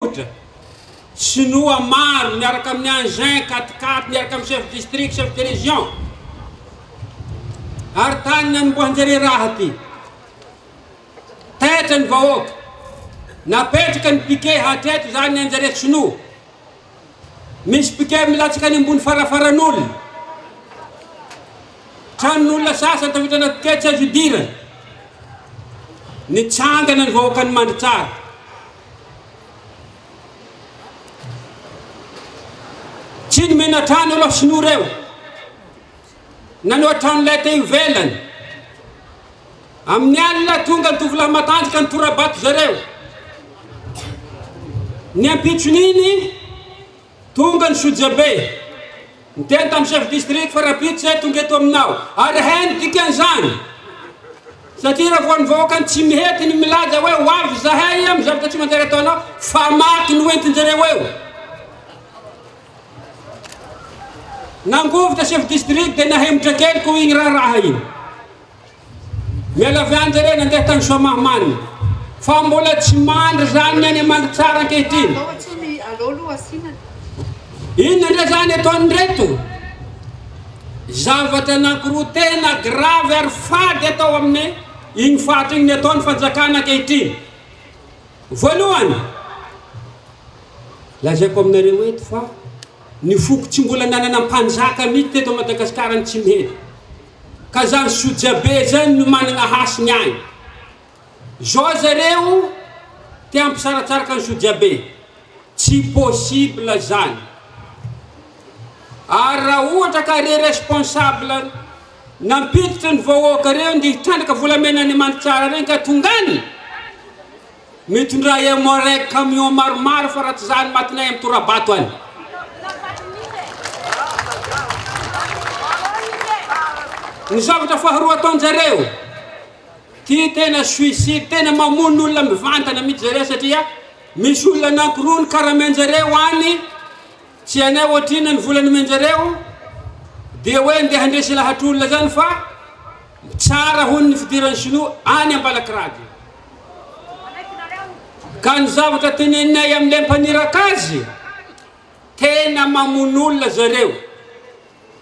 Ohatra, Sinoa maro miaraka amin'ny engins quat-quatre miaraka amin'ny chef district, chef de région. Ary tany Nanombohanjereraha aty. Taitra ny vahoaka. Napetraka ny piquet hatreto izany ny Anjaratsinoa. Misy piquet milatsaka any ambony farafaran'olona. Tranon'olona sasany tafiditra anaty piquet tsy azo idirana. Nitsangana ny vahoakan'i Mandritsara. Tsy ny menatrano ireo sinoa ireo na ny ohatran'ilay teo ivelany. Amin'ny alina tonga ny tovolahy matanjaka nitora-bato zareo. Ny ampitson'iny Tonga ny Sojabe, niteny tamin'ny Chef District fa rahampitso izay tonga eto aminao, ary hay ny dikan'izany, satria raha vao ny vahoakany tsy mihety ny milaza hoe ho avy izahay amin'ny zavatra tsy manjary ataonao, fa maty no entin-jareo eo. Nangovitra Chef District dia nahemotra kely koa iny raharaha iny. Miala avy any zareo nandeha tany Soamahamanina fa mbola tsy mandry zany ny any Amandritsara ankehitriny. Inona ndray zany ataon'ireto? Zavatra anankiroa tena grave ary fady atao amin'ny iny faritra iny ataon'ny fanjakana ankehitriny. Voalohany, lazaiko aminareo eto fa ny foko tsy mbola nanana mpanjaka mihitsy teto Madagasikara ny Tsimihety. ka zany sojabe zany no managna hasiny agny zao zareo te hampisaratsaraka ny sojabe tsy possible zany ary raha ohatra ka re responsable nampiditra ny vahoaka reo nde hitrandraka volamena any Mandritsara regny ka tonga any Mitondra emoreg camion maromaro fa raha tsy zany matinay am torabato any. Ny zavatra faharoa ataon jareo ty tena suicide tena mamono olona mivantana mitsy zareo satria misy olona anankiroa ny karamen jareo any tsy anay ohatrinona ny vola nomen jareo dia hoe ndeha handresy lahatr olona zany fa Tsara hono ny fidiran'ny Shinoa any Ambalakiragy. Ka ny zavatra teneninay amin'ilay mpaniraka azy, tena mamono olona zareo.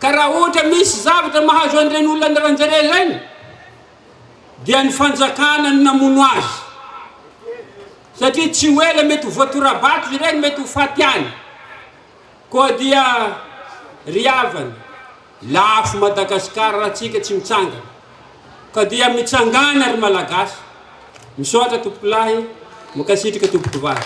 Ka raha ohatra misy zavatra mahazo an'ireny olona andalan-jare ireny, dia ny fanjakana no namono azy. Satria tsy ho ela mety ho voatora-bato ireny, mety ho faty any. Koa dia ry havana, lafo Madagascar raha tsika tsy mitsangana. Ka dia mitsangana ry Malagasy. Misaotra tompokolahy, mankasitraka tompoko vavy.